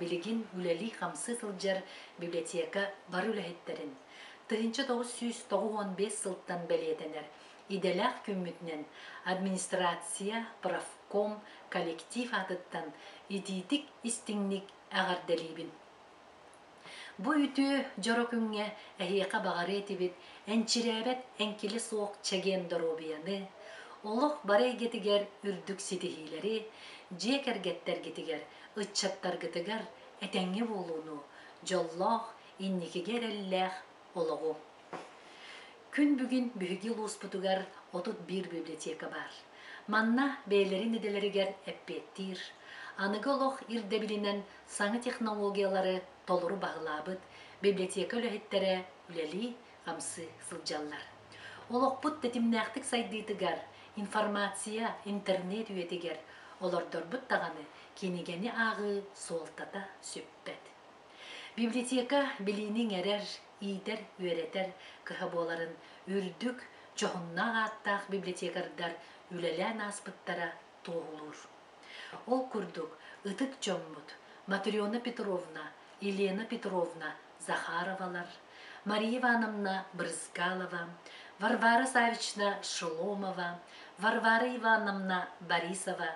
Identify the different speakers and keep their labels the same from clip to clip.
Speaker 1: билигин үлэлии-хамсыы сылдьар библиотека бары үлэһиттэрин, тыһыынча тоҕус сүүс тоҕус уон биэс сылтан бэлиэтэнэр идэлээх күммүтүнэн администрация, профком, коллектив аатыттан итиитик-истиҥник эҕэрдэлиибин. Бу үтүө дьоро күҥҥэ эһиэхэ баҕарыа этибит энчирээбэт эҥкилэ суох чэгиэн доруобуйаны, олох бары эйгэтигэр үрдүк ситиһиилэри, дьиэ кэргэттэргитигэр ыччаттаргытыгар этэҥҥэ буолууну, дьоллоох, инникигэ эрэллээх олоҕу! Күн бүгүн биһиги улууспутугар отут биир библиотека баар. Манна бэйэлэрин идэлэригэр эппиэттиир, аныгы олох ирдэбилинэн саҥа технологиялары толору баһылаабыт библиотека үлэһиттэрэ үлэлии, хамсыы сылдьаллар. Олохпут тэтимнээхтик сайдыытыгар, информация, интернет үйэтигэр олордорбут даҕаны кинигэни ааҕыы суолтата сүппэт. Библиотека билиини иҥэрэр, иитэр-үөрэтэр кыһа буоларын үрдүк, дьоһуннаах ааттаах библиотекардар үлэлээн ааспыттара туоһулуур. Ол курдук, ытык дьоммут Матрена Петровна, Елена Петровна Захаровалар, Мария Ивановна Брызгалова, Варвара Савична Шеломова, Варвара Ивановна Борисова,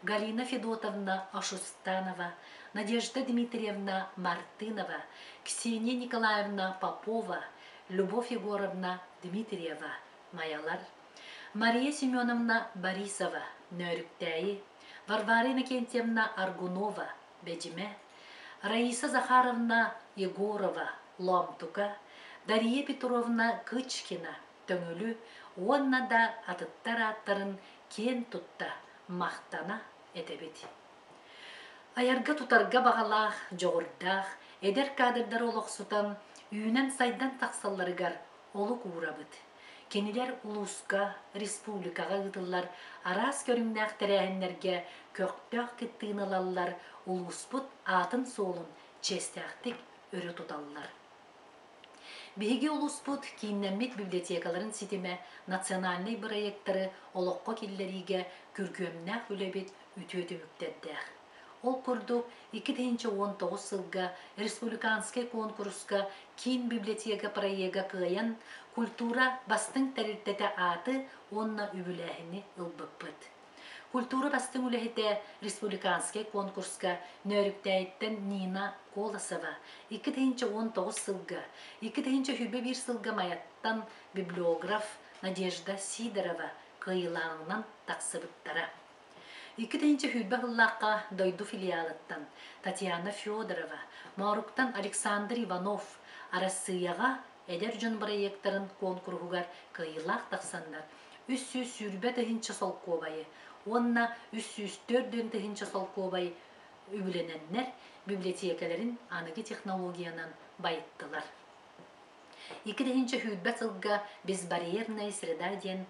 Speaker 1: Галина Федотовна Ошустанова, Надежда Дмитриевна Мартынова, Ксения Николаевна Попова, Любовь Егоровна Дмитриева, Майалар, Мария Семеновна Борисова, Нөөрүктээйи, Варвара Иннокентьевна Аргунова, Бэдьимэ, Раиса Захаровна Егорова, Лоомтука, Дария Петровна Кычкина, Төҥүлү уонна да атыттар ааттарын киэн тутта, махтана этэбит. Айарга-тутарга баҕалаах, дьоҕурдаах эдэр кадрдары олохсутан, үүнэн-сайдан тахсалларыгар олук уурабыт. Кинилэр улууска, республикаҕа ыытыллар араас көрүҥнээх тэрээһиннэргэ көхтөөх кыттыыны ылаллар, улууспут аатын-суолун чиэстээхтик өрө туталлар. Биһиги улууспут кииннэммит библиотекаларын ситимэ национальнай бырайыактары олоххо киллэриигэ күргүөмнээх үлэбит үтүө түмүктэрдээх. Ол курдук, икки тыһыынча уон тоҕус сылга республиканскай куонкуруска киин библиотека проега кыайан, культура бастыҥ тэрилтэтэ ааты уонна үбүлээһини ылбыппыт. Культура бастыҥ үлэһитэ республиканскай куонкуруска Нөөрүктээйиттэн Нина Колосова икки тыһыынча уон тоҕус сылга, икки тыһыынча сүүрбэ биир сылга Майаттан библиограф Надежда Сидорова кыайыылааҕынан тахсыбыттара. Икки тыһыынча сүүрбэ сыллаахха дойду филиалыттан Татьяна Федорова, Мооруктан Александр Иванов Арассыыйаҕа эдэр дьон бырайыактарын куонкуруһугар кыайыылаах тахсаннар үс сүүс сүүрбэ тыһыынча солкуобайы уонна үс сүүс төрт дьон тыһыынча солкуобай үбүлэнэннэр, библиотекаларын аныгы технологиянан байыттылар. Иккиһинчи сүүрбэ сылга Безбарьерная среда диэн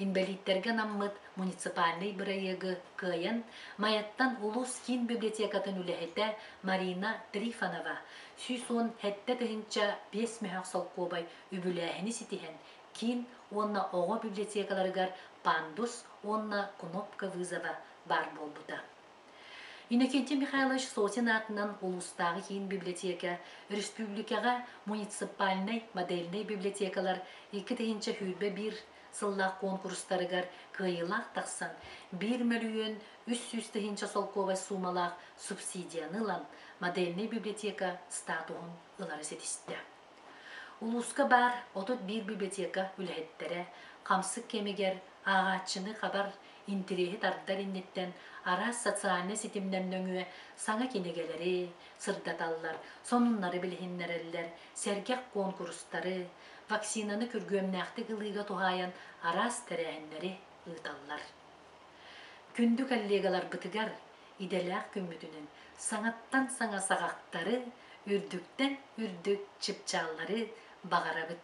Speaker 1: инбэлииттэргэ анаммыт муниципальнай бырайыагы кыайан, Майаттан улуус киин библиотекатын үлэһитэ Марина Трифонова сүүс уон сэттэ тыһыынча биэс мөһөх солкуобай үбүлээһини ситиһэн, киин уонна оҕо библиотекаларыгар пандус уонна кнопка вызова баар буолбута. Иннокентий Михайлович Сотин аатынан улуустааҕы киин библиотека, өрөспүүбүлүкэҕэ муниципальнай модельнай библиотекалар икки тыһыынча сүүрбэ биир сыллаах куонкурустарыгар кыайыылаах тахсан, биир мөлүйүөн үс сүүс тыһыынча солкуобай суумалаах субсидияны ылан, модельнай библиотека статуһун ылары ситистэ. Улууска баар отут биир библиотека үлэһиттэрэ хамсык кэмигэр ааҕааччыны хабар интириэһи тардар инниттэн араас социальнай ситимнэр нөҥүө саҥа кинигэлэри сырдаталлар, сонуннары билиһиннэрэллэр, сэргэх куонкурустары, вакцинаны күргүөмнээхтик ылыыга туһаайан араас тэрээһиннэри ыыталлар. Күндү коллегаларбытыгар идэлээх күммүтүнэн саҥаттан саҥа саҕахтары, үрдүктэн үрдүк чыпчааллары баҕарабыт!